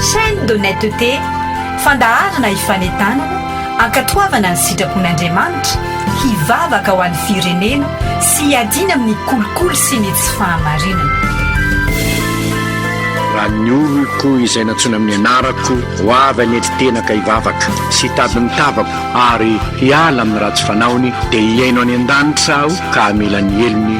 Chaîne d'honnêteté, fandaharana ifanentanana, ankatoavana ny sitrapon'Andriamanitra, hivavaka ho an'ny firenena sy hiadiana amin'ny kolikoly sy ny tsy fahamarinana. Raha ny oloko izay nantsoina amin'ny anarako ho avy any an-tena ka hivavaka sy hitady ny tavako ary hiala amin'ny ratsy fanaony dia hihaino any an-danitra aho ka hamela ny helony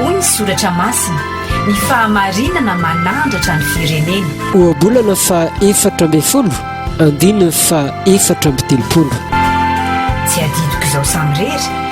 Hoy ny soratra masina, ny fahamarinana manandratra ny firenena. Ohabolana faha efatra ambin'ny folo, andininy faha efatra amby telopolo. Tsy adidiko izao samirery.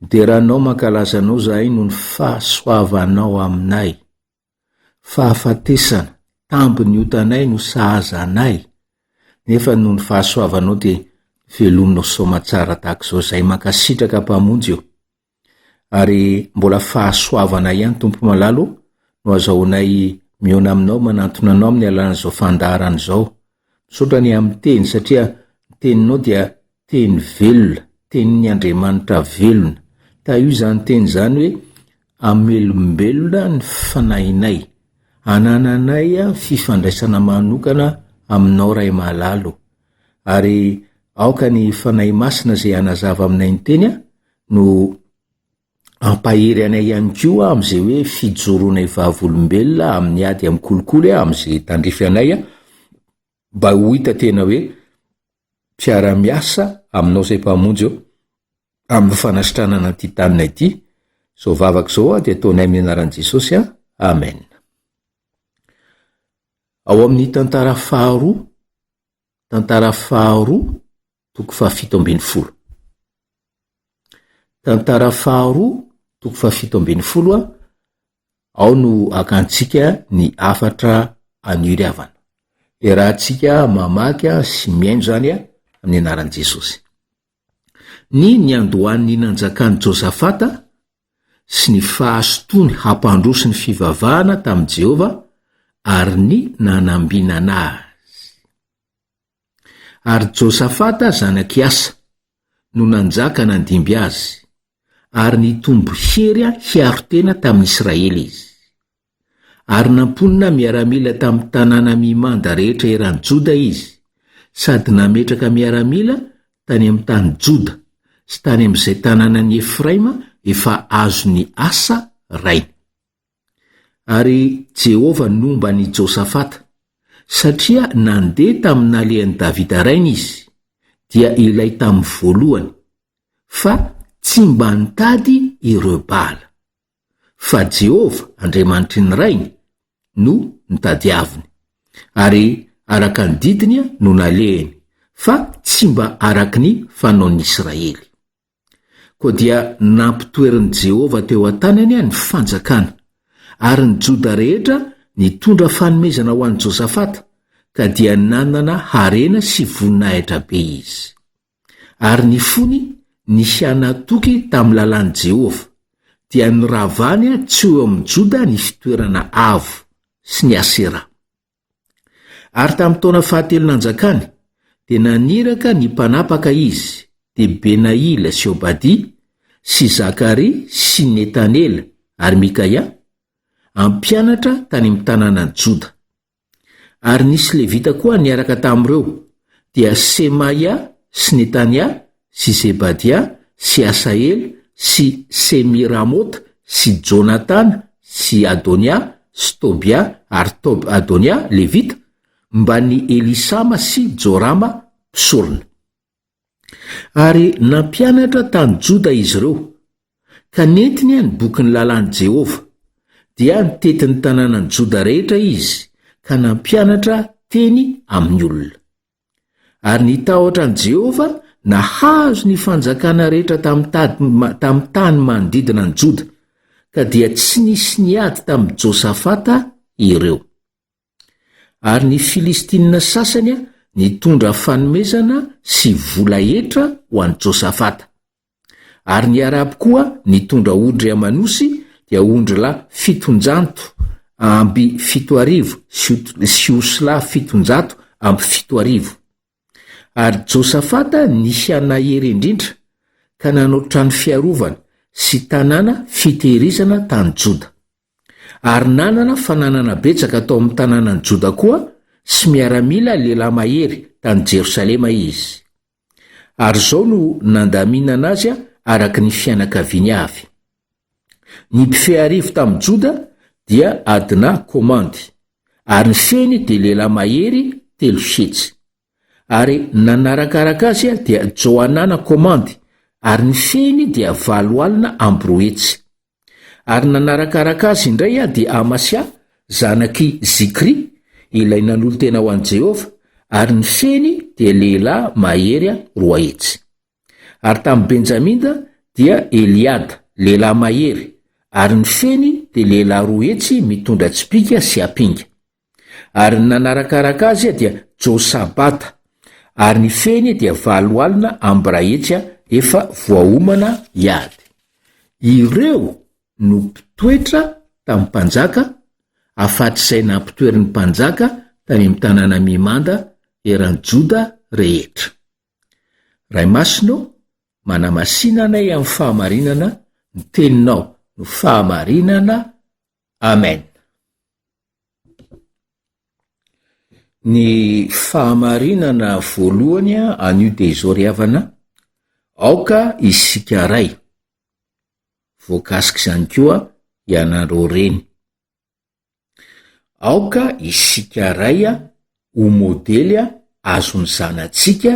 Midera anao mankalaza anao zahay noho ny fahasoavanao aminay. Fahafatesana, tambin'ny otanay no sahaza anay, nefa noho ny fahasoavanao dia velominao soamatsara tahaka izao zahay. Mankasitraka Mpamonjy o! Ary mbola fahasoavana ihany Tompo Malala o no azahoanay mihaona aminao manantona anao amin'ny alalan'izao fandaharana izao. Misaotra ny amin'ny teny satria ny teninao dia teny velona, tenin'ny Andriamanitra velona. Tahio izany teny izany hoe hamelombelona ny fanahinay, hanananay fifandraisana manokana aminao Ray Malala o. Ary aoka ny Fanahy Masina izay hanazava aminay ny teny no Ampahery anay ihany koa aho amin'izay hoe fijoroanay vavolombelona amin'ny ady amin'ny kolikoly aho amin'izay tandrify anay aho mba ho hita tena hoe mpiara-miasa aminao izay Mpamonjy ô amin'ny fanasitranana an'ity taninay ity izao vavaka izao aho dia ataonay amin'ny anaran'i Jesosy an Amen Ao amin'ny tantara faharoa tantara faharoa toko fahafito ambin'ny folo. Tantara faharoa, toko fahafito ambin'ny folo a, ao no akantsika ny afatra aniry havana. Erahantsika mamaky sy mihaino izany a, amin'ny anaran'i Jesosy. Ny niandohan'ny nanjakan'i Josafata sy ny fahasotoany hampandroso ny fivavahana tamin'i Jehovah ary ny nanambinana azy. Ary Josafata zanak' i Asa no nanjaka nandimby azy, ary nitombo hery hiaro tena tamin' Israely izy. Ary namponina miaramila tamin'ny tanàna mimanda rehetra eran'i Joda izy, sady nametraka miaramila tany amin'ny tany Joda sy tany amin'izay tanànan'i Efraima efa azon'i Asa rainy. Ary Jehovah nomba an'i Josafata, satria nandeha tamin'ny nalehan'i Davida rainy izy, dia ilay tamin'ny voalohany, fa tsy mba nitady ireo Baala. Fa Jehovah, Andriamanitry ny rainy, no nitadiaviny, ary araka ny didiny no nalehany, fa tsy mba araka ny fanaon'ny Israely. Koa dia nampitoerin'i Jehovah teo an-tanany ny fanjakana, ary ny Joda rehetra nitondra fanomezana ho an'i Josafata, ka dia nanana harena sy voninahitra be izy. Ary ny fony nisy hanatoky tamin'ny lalàn'i Jehovah, dia noravany tsy ho eo amin'i Joda ny fitoerana avo, sy ny Asera. Ary tamin'ny taona fahatelo nanjakany, dia naniraka ny mpanapaka izy, dia Benaila sy Obadia, sy Zakaria sy Netanela ary Mikaia, hampianatra tany amin'ny tanànan'i Joda. Ary nisy Levita koa niaraka tamin'ireo, dia Semaia sy Netania sy Zebadia sy Asaela sy Semiramota sy Jonatana sy Adonia sy Tobia ary Tob-Adonia, Levita, mban'i Elisama sy Jorama, mpisorona. Ary nampianatra tany Joda izy ireo, ka nentiny ny bokin'ny lalàn'i Jehovah, dia nitety ny tanànan'i Joda rehetra izy ka nampianatra teny amin'ny olona. Ary nitahotra an'i Jehovah nahazo ny fanjakana rehetra tamin'ny tany manodidina an'i Joda, ka dia tsy nisy niady tamin'i Josafata ireo. Ary ny Filistinina sasany nitondra fanomezana sy vola hetra ho an'i Josafata. ary ny Arabo koa nitondra ondry aman'osy dia ondrilahy fiton-janto amby fito arivo sy osilahy fiton-jato amby fito arivo. Ary Josafata niha nahery indrindra ka nanao trano fiarovana sy tanàna fitehirizana tany Joda. Ary nanana fananana betsaka tao amin'ny tanànan'i Joda koa sy miaramila lehilahy mahery tany Jerosalema izy. Ary izao no nandaminana azy araka ny fianakaviany avy. Ny mpifehy arivo tamin'ny Joda dia Adna komandy, ary ny fehiny dia lehilahy mahery telo hetsy. Ary nanarakaraka azy dia Johanana komandy, ary ny fehiny dia valo alina amby roa hetsy. Ary nanarakaraka azy indray aho dia Amasia, zanak'i Zikry, ilay nanolo-tena ho an'i Jehovah, ary ny feny dia lehilahy mahery roa hetsy. Ary tamin'i Benjaminda dia Eliada, lehilahy mahery, ary ny feny dia lehilahy roa hetsy mitondra tsipìka sy apinga. Ary ny nanarakaraka azy dia Josabata, ary ny fehiny dia valo alina ambrahetsya efa voaomana hiady. Ireo no mpitoetra tamin'ny mpanjaka, afatr'izay nampitoerin'ny mpanjaka tany amin'ny tanàna mimanda eran'i Joda rehetra. Ray Masina ô, manamasina anay amin'ny fahamarinana, ny Teninao no fahamarinana Amen. Ny fahamarinana voalohany anio dia izao ry havana, aoka isika ray. Voakasika izany koa ianareo reny. Aoka isika ray ho modely azon'ny zanatsika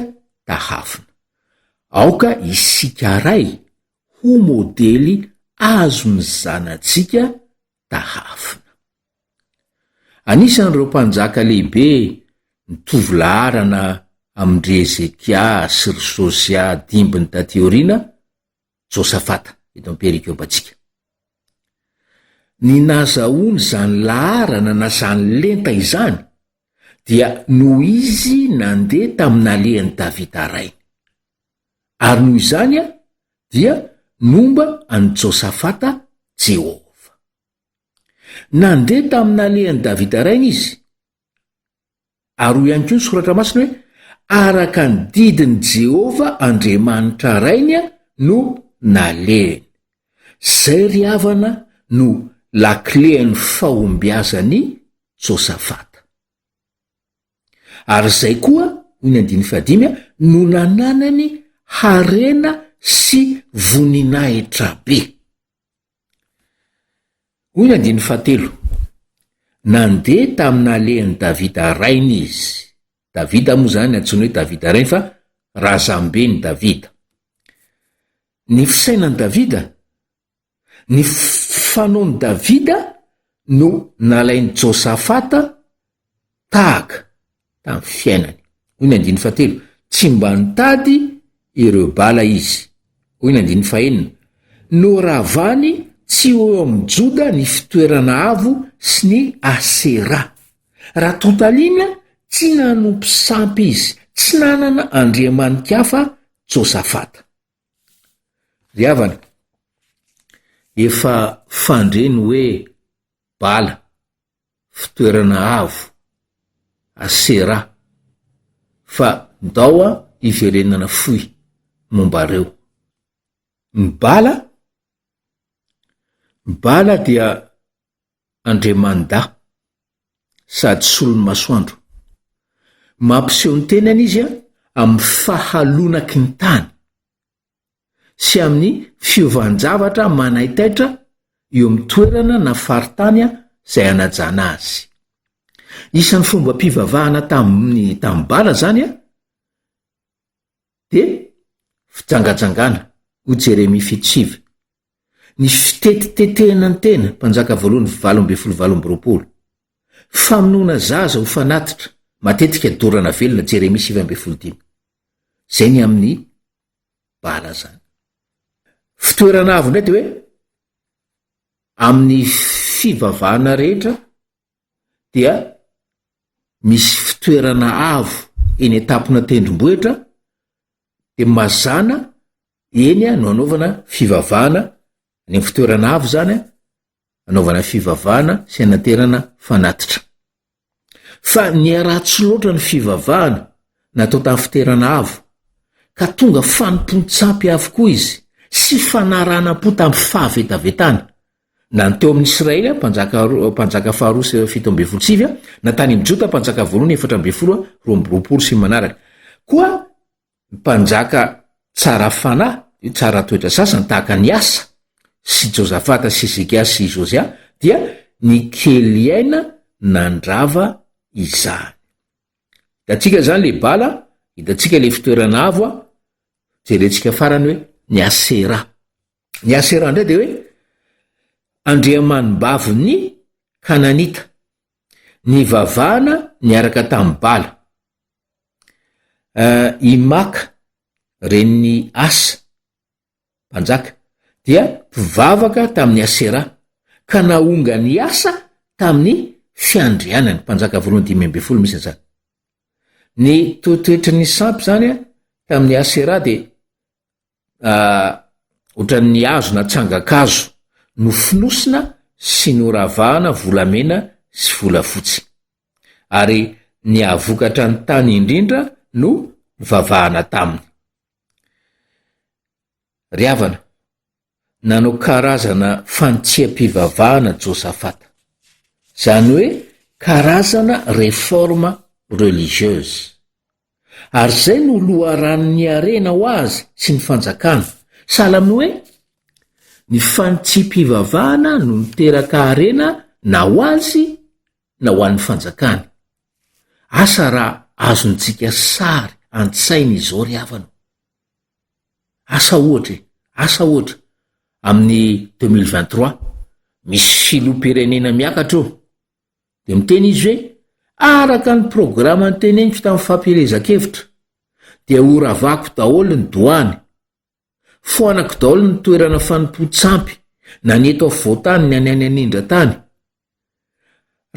tahafina. Aoka isika ray ho modely azon'ny zanatsika tahafina. Anisan'ireo mpanjaka lehibe ny tovolaharana amin-dry Hezekia sy ry Jôsia dimbiny taty aoriana, Jôsafata, eto am-perikopantsika. Ny nazahoany izany laharana na izany lenta izany dia noho izy nandeha tamin'alehan'i Davida rainy. ary noho izany aho dia momba an'i Josafata Jeho. Nandeha tamin'alehan'i Davida rainy izy. Ary hoy ihany koa ny soratra masina hoe araka ny didin'i Jehovah Andriamanitra rainy no nalehany. Zay ry havana no lakilen'ny fahombiazan'i Josafata. Ary izay koa, hoy ny andininy fahadimy a, no nananany harena sy voninahitra be. Hoy ny andininy fahatelo, Nandeha tamin'alehan'i Davida rainy izy. Davida moa izany antsoina hoe Davida rainy fa razamben'i Davida. Ny fisainan'i Davida Ny fanaon'i Davida no nalain'i Josafata tahaka tamin'ny fiainany. Hoy ny andininy fahatelo, Tsy mba nitady ireo bala izy. Hoy ny andininy fahenina, Noravany tsy ho eo amin'i Joda ny fitoerana avo sy ny Asera. Raha totaliana, tsy nanompo sampy izy, tsy nanana andriamani-kafa Josafata. Ry havana, efa fandre ny hoe bala, fitoerana avo, asera, fa ndao an hiverenana fohy momba reo. Ny bala, ny bala dia. Andriamanidà, sady solon'ny masoandro. Mampiseho ny tenany izy amin'ny fahalonaky ny tany sy amin'ny fiovan-javatra manaitaitra eo amin'ny toerana na faritany izay anajana azy. Isan'ny fombam-pivavahana tamin'ny tanimbala izany Dia fijangajangana, hoy Jeremia fito sivy. Ny fitetitetehana ny tena, Mpanjaka voalohany valo ambin'ny folo valo amby roapolo. Famonoana zaza ho fanatitra, matetika dorana velona, Jeremia sivy ambin'ny folo dimy. Izay ny amin'ny bala izany. Fitoerana avo indray dia hoe amin'ny fivavahana rehetra, dia misy fitoerana avo eny an-tampona tendrombohitra dia mazàna eny no anaovana fivavahana, any amin'ny fitoerana avo izany an, anaovana fivavahana sy anaterana fanatitra. Fa niharaha tsy loatra ny fivavahana natao tamin'ny fitoerana avo ka tonga fanompoan-tsampy avokoa izy sy fanaranam-po tamin'ny fahavetavetana na ny teo amin'i Israely mpanjaka mpanjaka faharoa sy fito ambin'ny folo sivy, na tany amin'i Joda mpanjaka voalohany efatra ambin'ny folo roa amby roapolo sy ny manaraka. Koa mpanjaka tsara fanahy, tsara toetra sasany tahaka an'i Asa sy Josafata sy Hezekia sy Josia dia ny Keliaina nandrava izany. Hitantsika izany le Bala, hitantsika le fitoerana avo, jerentsika farany hoe ny Asera. Ny Asera indray dia hoe andriamanibavin'ny Kananita. Nivavahana niaraka tamin'ny Bala. Uh, I Maka, ren'ny Asa, mpanjaka, dia mpivavaka tamin'ny Asera ka nahonga ny Asa tamin'ny fiandrianany, mpanjaka voalohany dimy amby folo misy an'izany. Ny toetoetry ny sampy zany a tamin'ny Asera dia ah, ohatran'ny hazo na tsangan-kazo nofonosina sy noravahana volamena sy volafotsy. Ary ny hahavokatra ny tany indrindra no vavahana taminy. Ry havana, nanao karazana fanitsiam-pivavahana Josafata. Izany hoe karazana réforme religieuse. Ary izay no loharanon'ny harena ho azy sy ny fanjakana. Sahala amin'ny hoe, ny fanitsiam-pivavahana no niteraka harena na ho azy na ho an'ny fanjakany. Asa raha azontsika sary an-tsaina izao ry havana. Asa ohatra e, asa ohatra, amin'ny deux mille vingt trois, misy filoham-pirenena miakatra eo, Dia miteny izy hoe, araka ny programa niteneniko tamin'ny fampielezan-kevitra, dia horavako daholo ny doany, foanako daholo ny toerana fanompoan-tsampy, na ny eto afovoan-tany na ny any anindran-tany.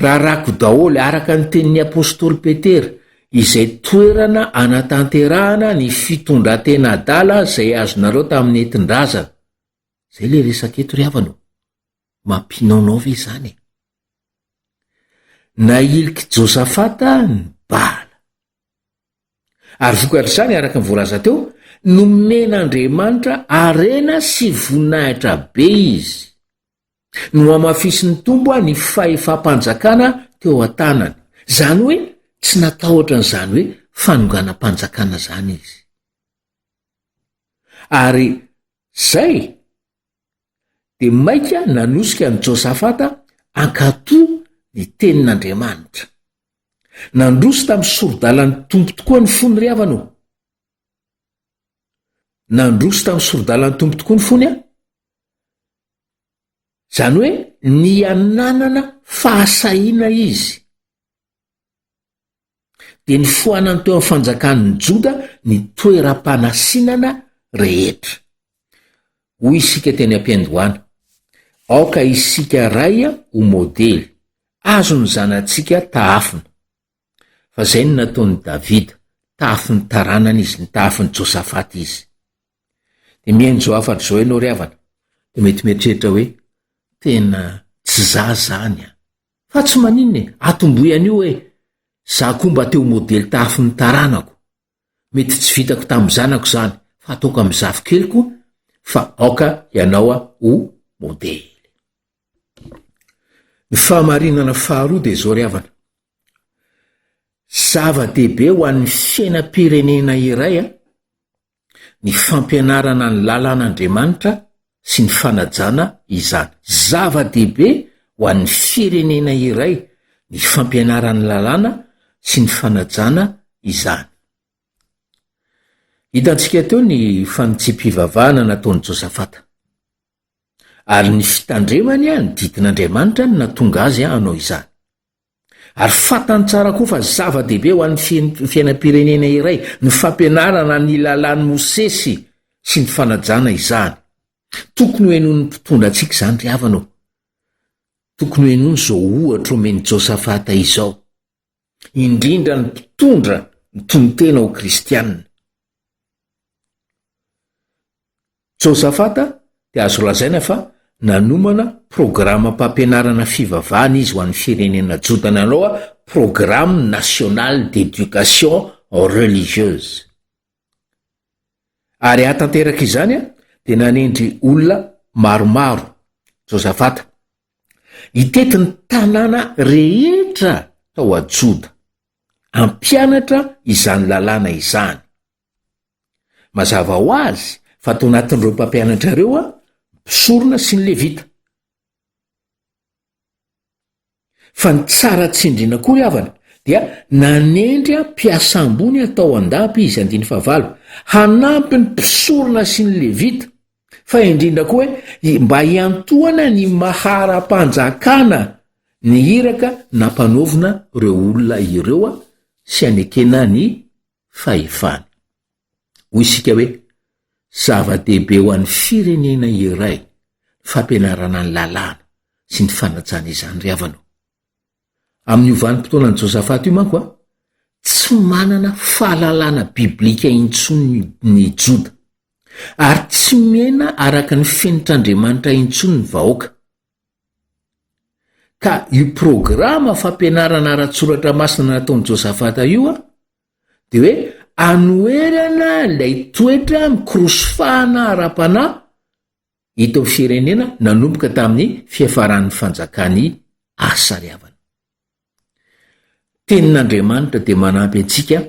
Rarako daholo, araka ny tenin'ny apostoly Petera, izay toerana anatanterahana ny fitondran-tena adala izay azonareo tamin'ny entin-drazana. Izay ilay resaka eto ry havana o. mampinaonao ve izany e? Nahilik'i Josafata ny Baala. Ary vokatr'izany, araka ny voalaza teo, nomen'Andriamanitra harena sy voninahitra be izy. Nohamafisin'ny Tompo ny fahefam-panjakana teo an-tanany. Izany hoe tsy natahotra an'izany hoe fanonganam-panjakana izany izy. Ary izay Dia mainka nanosika an'i Josafata hankatò ny tenin'Andriamanitra. Nandroso tamin'ny sori-dalan'ny Tompo tokoa ny fony ry havana ô! Nandroso tamin'ny sori-dalan'ny Tompo tokoa ny fony an! Izany hoe nihananana fahasahiana izy. dia nifoanany teo amin'ny fanjakan'ny Joda ny toeram-panasinana rehetra. Hoy isika teny am-piandohana, aoka isika ray ho modely, azo ny zanatsika tahafina. Fa izay no nataon'i Davida, tahafin'ny taranany izy, ny tahafin'i Josafat izy. Dia mihaino izao hafatra izao ianao ry havana, dia mety mieritreritra hoe, tena tsy za zany an. Fa tsy maninona e, atombohy an'io hoe, Za koa mba te ho modely tahafy ny taranako. Mety tsy vitako tamin'ny zanako izany, fa ataoko amin'ny zafikeliko fa aoka ianao ho modely. Ny fahamarinana faharoa dia izao ry havana, zava-dehibe ho an'ny fiainam-pirenena iray ny fampianarana ny lalàn'Andriamanitra sy ny fanajana izany. Zava-dehibe ho an'ny firenena iray ny fampianaran'ny lalàna sy ny fanajana izany. Hitantsika teo ny fanitsiam-pivavahana nataon'i Josafata, ary ny fitandremany ny didin'Andriamanitra no nahatonga azy hanao izany. Ary fantany tsara koa fa zava-dehibe ho an'ny fiainam-pirenena iray ny fampianarana ny lalàn'i Mosesy sy ny fanajana izany. Tokony ho henoin'ny mpitondra antsika izany ry havana ô. Tokony ho henoiny izao ohatra omen'i Josafata izao, indrindra ny mpitondra mitonon-tena ho kristianina. Josafata dia azo lazaina fa nanomana programam-pampianarana fivavahana izy ho an'ny firenena Joda nanao a Programme national d'éducation religieuse. Ary hahatanteraka izany a dia nanendry olona maromaro Josafata hitety ny tanàna rehetra tao a Joda hampianatra izany lalàna izany. Mazava ho azy fa tao anatin'ireo mpampianatra ireo aho, mpisorona sy ny Levita. Fa ny tsara tsindrina koa ry havana, dia nanendry ahy mpiasa ambony atao an-dapa izy, andiny fahavalo, hanampy ny mpisorona sy ny Levita, fa indrindra koa hoe hi- mba hiantohana ny maha ara-panjakana ny iraka nampanaovina ireo olona ireo aho sy hanekena ny fahefana. Hoy isika hoe, zava-dehibe ho an'ny firenena iray ny fampianarana ny lalàna sy ny fanajana izany. Ry havana o! Amin'io vanim-potoanan'i Josafata io manko, tsy manana fahalalana biblika intsony ny Joda, ary tsy miaina araka ny fenitr'Andriamanitra intsony ny vahoaka. Ka io programa fampianarana ara-tsoratra masina nataon'i Josafata io dia hoe anoherana ilay toetra mikorosy fahana ara-panahy eto amin'ny firenena nanomboka tamin'ny fiafaran'ny fanjakan'i Asa ry havana. Tenin'Andriamanitra dia manampy antsika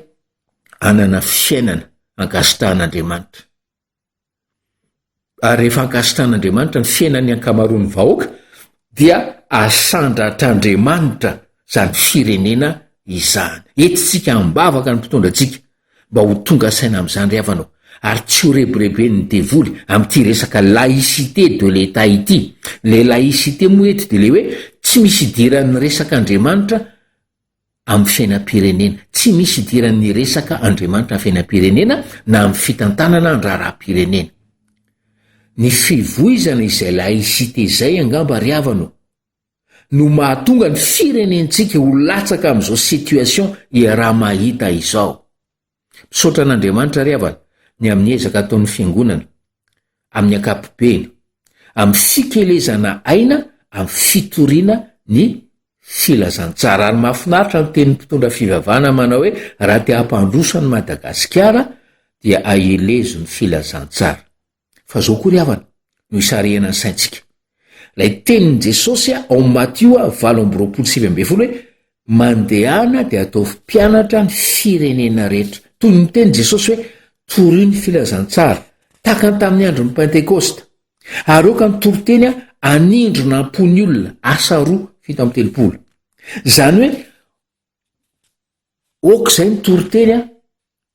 hanana fiainana ankasitrahan'Andriamanitra. ary rehefa ankasitrahan'Andriamanitra ny fiainan'ny ankamaroan'ny vahoaka dia asandratr'Andriamanitra izany firenena izany. Entintsika am-bavaka ny mpitondra antsika mba ho tonga saina amin'izany ry havana ary tsy ho rebireben'ny devoly amin'ity resaka laïcité de l'État ity. Ilay laïcité moa eto dia ilay hoe tsy misy idiran'ny resak'Andriamanitra amin'ny fiainam-pirenena. Tsy misy idiran'ny resaka Andriamanitra ny fiainam-pirenena na amin'ny fitantanana ny raharaham-pirenena. Ny fivoizana izay laïcité izay angamba ry havana o, no mahatonga ny firenentsika ho latsaka amin'izao situation iaraha-mahita izao. Misaotra an'Andriamanitra ry havana ny amin'ny ezaka ataon'ny Fiangonana amin'ny ankapobeny amin'ny fikelezana aina amin'ny fitoriana ny filazantsara ary mahafinaritra ny tenin'ny mpitondra fivavahana manao hoe raha te hampandroso an'i Madagasikara dia ahelezo ny filazantsara. Fa zao koa ry havana no isarihana ny saintsika. Lay tenin'i Jesosy ao amin'ny Matio valo amby roapolo sivy ambin'ny folo hoe mandehana dia ataovy mpianatra ny firenena rehetra. Toy ny teny Jesosy hoe torio ny filazantsara. Takany tamin'ny andron'ny Pentekosta. Areoka ny toriteny anindrona am-pony olona asa roa fito amby telopolo. Izany hoe ok izay ny toriteny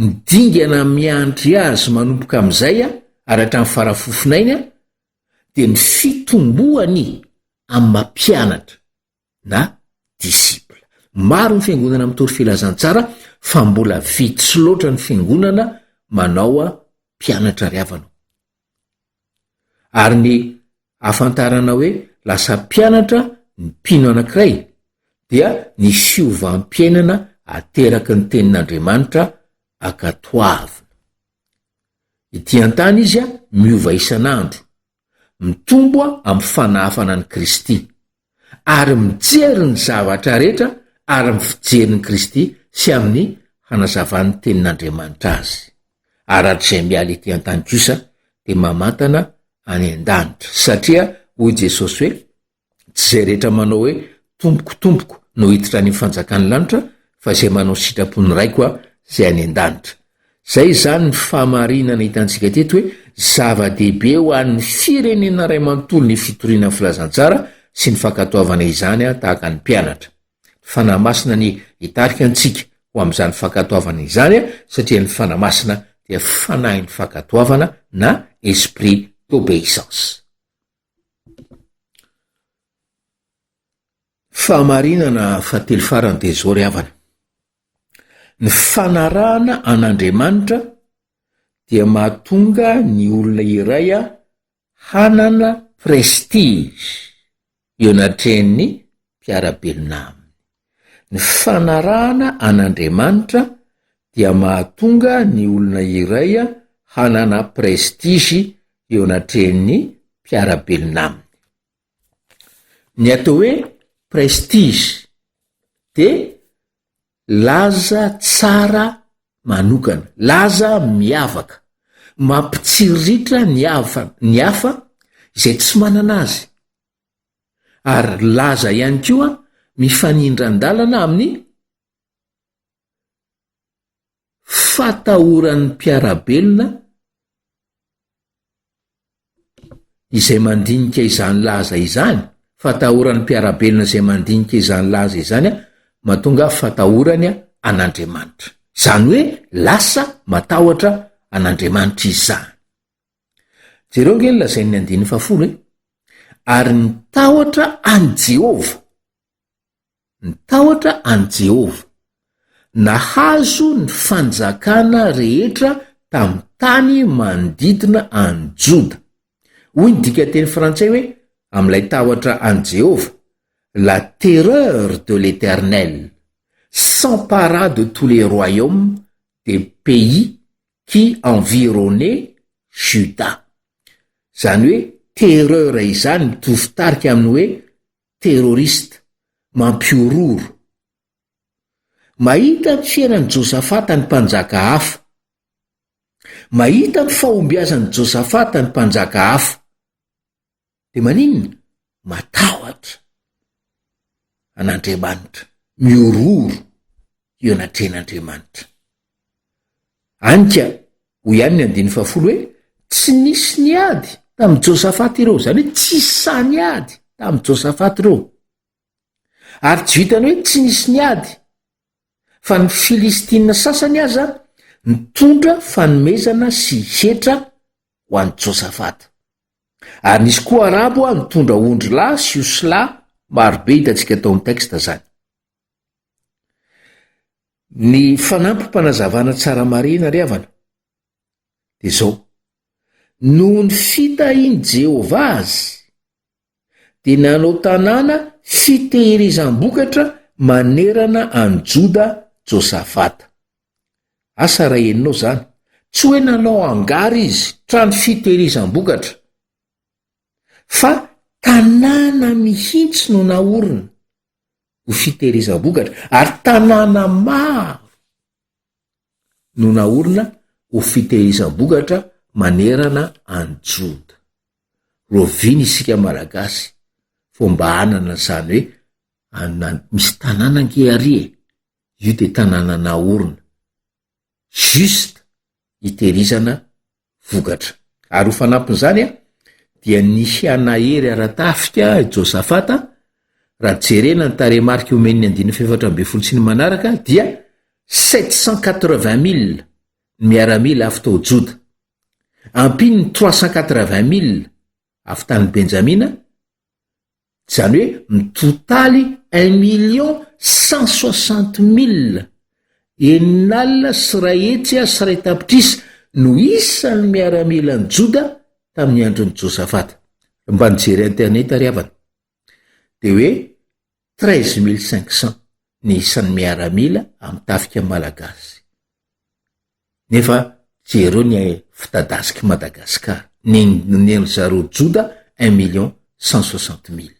Ny dingana miandry azy manomboka amin'izay, araka ny farafofonainy, dia ny fitomboany amin'ny maha mpianatra na disciple. Maro ny fiangonana mitory filazantsara fa mbola vitsy loatra ny fiangonana manao mpianatra ry havana. Ary ny ahafantarana hoe lasa mpianatra ny mpino anankiray, dia ny fiovam-piainana ateraky ny Tenin'Andriamanitra ankatoavina. Ety an-tany izy miova isan'andro, mitombo amin'ny fanahafana an'i Kristy, ary mijery ny zavatra rehetra ary amin'ny fijerin'i Kristy sy amin'ny hanazavan'ny Tenin'Andriamanitra azy. Aratr'izay miala ety an-tany kosa dia mamantana any an-danitra, satria hoy Jesosy hoe, Tsy izay rehetra manao hoe, Tompoko, Tompoko, no hiditra any amin'ny fanjakan'ny lanitra, fa izay manao ny sitrapon'ny Raiko izay any an-danitra. Izay izany ny fahamarinana hitantsika teto hoe zava-dehibe ho an'ny firenena iray manontolo ny fitoriana ny filazantsara sy ny fankatoavana izany ah, tahaka ny mpianatra. Ny fanahy masina ny hitarika antsika ho amin'izany fankatoavana izany ah, satria ny fanahy masina dia fanahin'ny fankatoavana na esprit d'obéissance. Fahamarinana fahatelo farany dia izao ry havana. Ny fanarahana an'Andriamanitra dia mahatonga ny olona iray hanana prestige eo anatrehan'ny mpiara-belona aminy. Ny fanarahana an'Andriamanitra dia mahatonga ny olona iray hanana prestige eo anatrehan'ny mpiara-belona aminy. Ny atao hoe prestige de laza tsara manokana, laza miavaka, mampitsiriritra ny hafa- ny hafa izay tsy manana azy ary laza ihany koa mifanindran-dalana amin'ny. fatahoran'ny mpiara-belona izay mandinika izany laza izany, fatahoran'ny mpiara-belona izay mandinika izany laza izany an, mahatonga fatahorany an'Andriamanitra. Izany hoe lasa matahotra an'Andriamanitra izany. Jereo nge ny lazain'ny andininy fahafolo hoe, ary ny tahotra an'i Jehovah ny tahotra an'i Jehovah. Nahazo ny fanjakana rehetra tamin'ny tany manodidina an'i Joda. Hoy ny dikan-teny frantsay hoe amin'ilay tahotra an'i Jehovah, La terreur de l'Éternel s'empara de tous les royaumes des pays qui environnaient Juda. Izany hoe terreur izany mitovy tarika amin'ny hoe terroriste, mampihorohoro. Mahita ny fiainan'i Josafata ny mpanjaka hafa. Mahita ny fahombiazan'i Josafata ny mpanjaka hafa. Dia maninona? Matahotra an'Andriamanitra, mihorohoro eo anatrehan'Andriamanitra. Anyka, hoy ihany ny andininy fahafolo hoe, Tsy nisy niady tamin'i Josafata ireo, izany hoe tsy sahy niady tamin'i Josafata ireo. Ary tsy vitan'ny hoe tsy nisy niady, fa ny Filistina sasany aza nitondra fanomezana sy hetra ho an'i Josafata. Ary nisy koa Arabo nitondra ondry lahy sy osilahy marobe, hitantsika tao amin'ny texte izany. Ny fanampim-panazavana tsara marihina ry havana dia izao, noho ny fitahian'i Jehovah azy, dia nanao tanàna fitehirizam-bokatra manerana an'i Joda Josafata. Asa raha henonao izany, tsy hoe nanao hangar izy, trano fitehirizam-bokatra, fa tanàna mihitsy no naorina, ho fitehirizam-bokatra ary tanàna maro no naorina ho fitehirizam-bokatra manerana any Joda. Roviana isika Malagasy vao mba hanana izany hoe anona misy tanàna ange ary e! Io dia tanàna naorina. juste hitehirizana vokatra. Ary ho fanampin'izany an, dia nisy an'Ahery ara-tafika i Josafata, raha jerena ny tarehimarika omen'ny andininy fahefatra ambin'ny folo sy ny manaraka, dia sept cent quatre-vingt mille ny miaramila avy tao Joda. Ampiany ny trois cent quatre-vingt mille avy tany Benjamina, Izany hoe mitotaly un million cent soixante mille, enina alina sy iray hetsy sy iray tapitrisa, no isan'ny miaramilan'i Joda tamin'ny andron'i Josafata. Raha mba nijery internet ry havana, dia hoe treize mille cinq cents ny isan'ny miaramila amin'ny tafika malagasy. Nefa jereo ny fitadasik'i Madagascar, nenoneno zareo Joda un million cent soixante mille.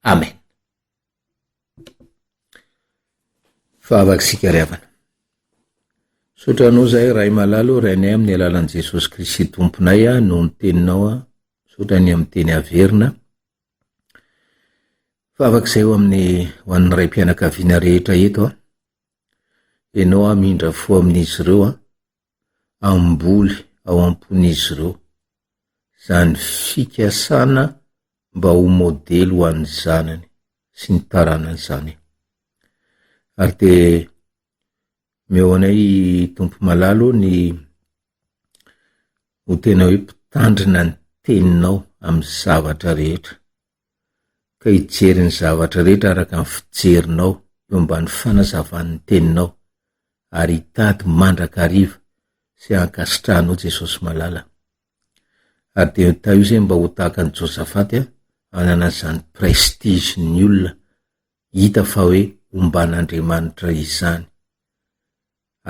Amen. Fahavakisika ry havana. Misaotra anao zahay Ray malala ô, Rainay amin'ny alalan'i Jesosy Kristy Tomponay a, noho ny teninao a, misaotra ny amin'ny teny averina. Fahavakizay ho amin'ny ho an'ny raim-pianakaviana rehetra eto a. Ianao hamindra fo amin'izy ireo an, hamboly ao am-pon'izy ireo izany fikasana mba ho modely ho an'ny zanany sy ny taranany izany. Ary dia meo anay Tompo Malalo ny ho tena hoe mpitandrina ny teninao amin'ny zavatra rehetra. ka hijery ny zavatra rehetra araka ny fijerinao eo ambany fanazavan'ny teninao ary hitady mandrakariva sy hankasitrahanao Jesosy malala. Ary dia mitaha io izay mba ho tahaka an'i Josafaty an, hanana izany prestige ny olona hita fa hoe omban'Andriamanitra izany.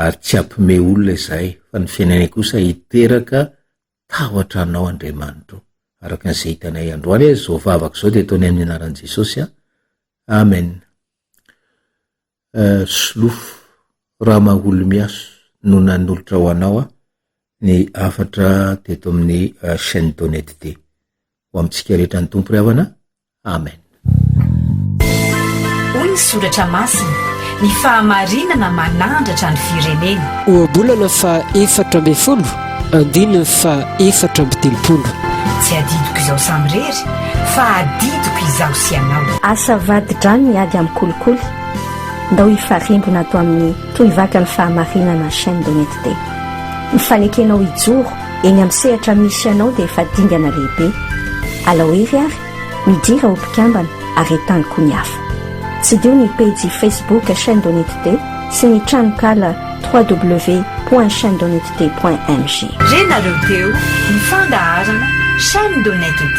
Ary tsy hampime olona izahay fa ny fiainanay kosa hiteraka Tahotra anao Andriamanitra ô. Araka ny izay hitanay androany a, izao vavaka izao dia ataonay amin'ny anaran'i Jesosy a. Amen. Euh, solofo, Ramaholimiaso no nanolotra ho anao a, ny hafatra teto amin'ny euh, chaîne Donette D. Ho amintsika rehetra ny Tompo ry havana, Amen. Hoy ny soratra masina, ny fahamarinana manandratra ny firenena. Ohabolana faha efatra ambin'ny folo, andininy faha efatra amby telopolo. Tsy adidiko izao samirery, fa adidiko izaho sy ianao. Asa vadi-drano ny ady amin'ny kolikoly, ndao hifarimbona ato amin'ny Tohivakan'ny Fahamarinana Chaîne d'Honnêteté. Ny fanekenao hijoro Eny amin'ny sehatra misy anao dia efa dingana lehibe. Alao hery ary, midira ho mpikambana ary entano koa ny hafa. Tsidiho ny pejy Facebook Chaîne Donitd sy ny tranonkala www.chainedonitd.mg. Renareo teo ny fandaharana Chaîne Donitd.